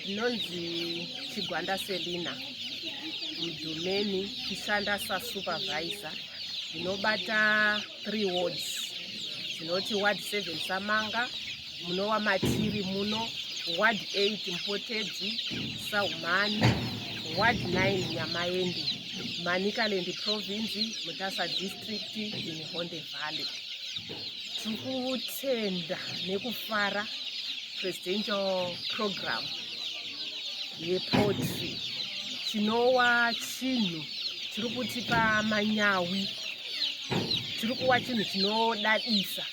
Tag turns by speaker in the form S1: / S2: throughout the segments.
S1: ndinonzi chigwanda selina mudhumeni kushanda sasupervisor ndinobata three wards dzinoti ward seven samanga muno wamatiri muno ward eight mpotedzi saumani ward nine nyamaende manikalendi province mutasa district in honde valley tiri kutenda nekufara presidential program yepotry chinowa chinhu chiri kutipa manyawi chiri kuwa chinhu chinodadisa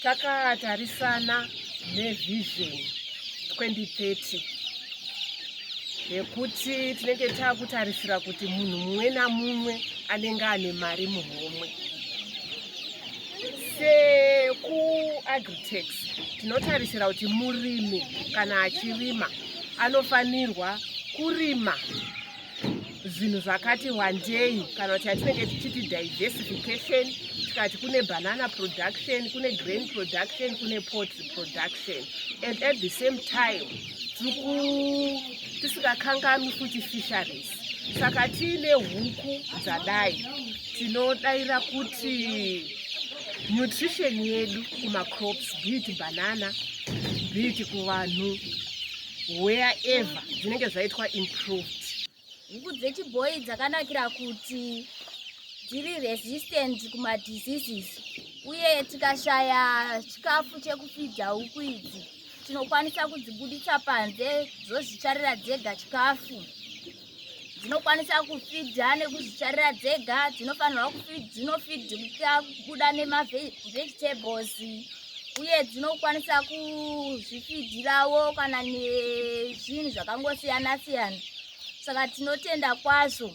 S1: takatarisana nevision 2030 yekuti tinenge takutarisira kuti munhu mumwe namumwe anenge ane mari muhomwe sekuagritex tinotarisira kuti murimi kana achirima anofanirwa kurima zvinhu zvakati wandei kana kuti atinenge tichiti diversification tikati kune banana production kune grain production kune potry production and at the same time tisingakanganwi futi fishery saka tiine huku dzadai tinodaira kuti nutrition yedu kumacrops bit banana bit kuvanhu where ever dzinenge zvaitwa improved huku
S2: dzechibhoyi dzakanakira kuti dziri resistant kumadiseases uye tikashaya chikafu chekufidza huku idzi tinokwanisa kudzibuditsa panze dzozvicharira dzega chikafu dzinokwanisa kufidha nekuzvicharira dzega dzinofanirwa dzinofidhika kubuda nemavegetables uye dzinokwanisa kuzvifidhirawo kana nezvinhu zvakangosiyana siyana saka tinotenda kwazvo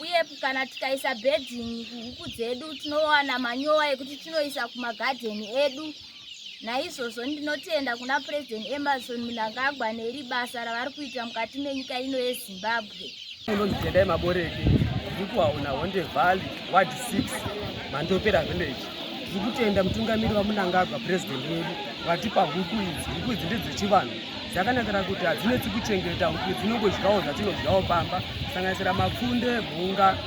S2: uye kana tikaisa bedding kuhuku dzedu tinowana manyowa ekuti tinoisa kumagadheni edu naizvozvo ndinotenda kuna president emerson munangagwa neri basa ravari kuita mukati menyika ino yezimbabwe unonditendai
S3: maboreke ndikuwaona honde valley ward 6 mandopera village tiri kutenda mutungamiri wamunangagwa purezidenti wedu vatipa huku idzi huku idzi ndedzechivanhu dzakanakira kuti hadzinetsi kuchengeta huku idzi inongodyawo dzatinodyawo pamba sanganisira mapfunde mhunga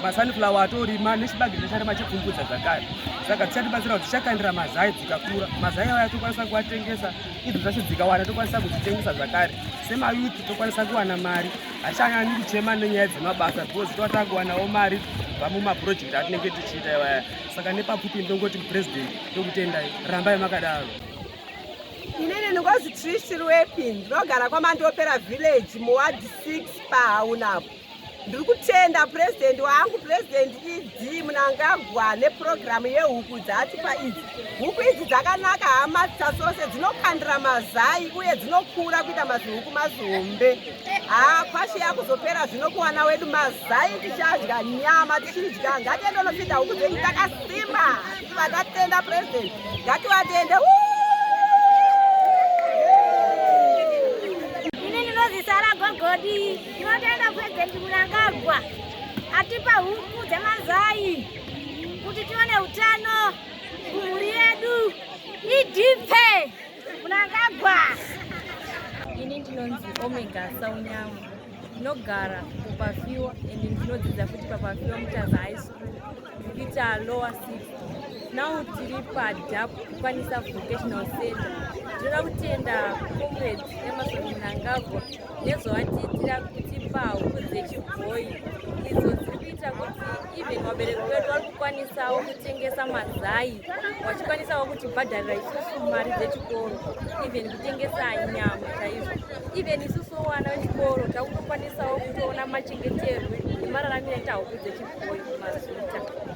S3: masunflower atorima nechibage checharima chepfumbudza dzakare saka dzichatibatsira kuti tichakandira mazai dzikakura mazai aya tokwanisa kuatengesa idzo zvacho dzikawana tokwanisa kudzitengesa zvakare semayuti tokwanisa kuwana mari Hachanyanyi kuchema nenyaya dzemabasa because tova takuwanawo mari kubva mumapurojekti atinenge tichiita iwaya saka nepapfupi ndongoti mupresident ndokutendai rambai makadaro
S4: inini ndingozi trishi rwepi ndinogara kwamandopera village muward 6 pahaunapo ndiri kutenda purezidendi wangu purezidendi ivi Dii Mnangagwa nepurogiramu yehuku dzaatipa idzi. Huku idzi dzakanaka hama dzasose dzinokandira mazai uye dzinokura kuita mazihuku mazihombe. Haa kwashi yakuzopera zvino kuwana wedu mazai tichadya nyama tichidya ngatiende unopinda huku dzedu takasimba tichiva tatenda purezidenti ngativatende
S2: Ini ndinozisara gogodii Tinotenda President Mnangagwa atipa huku dzemazai kuti tione utano kumhuri yedu idhipe Mnangagwa.
S5: Ini ndinonzi Omega Saunyamu ndinogara kupafiwa and ndinodzidza futi papafiwa mutaza high school kuita lower six now tiri padap kukwanisa vocational center tinoda kutenda comrade emerson mnangagwa nezvavatiitira kutipa huku dzechibhoyi idzo dziri kuita kuti even vabereki vedu vari kukwanisawo kutengesa mazai vachikwanisawo kutibhadharira isusu mari dzechikoro even kutengesa nyama chaizvo even isusu vana vechikoro takutokwanisawo kutoona machengeterwe nemararamiro etahuku dzechibhoyi mazita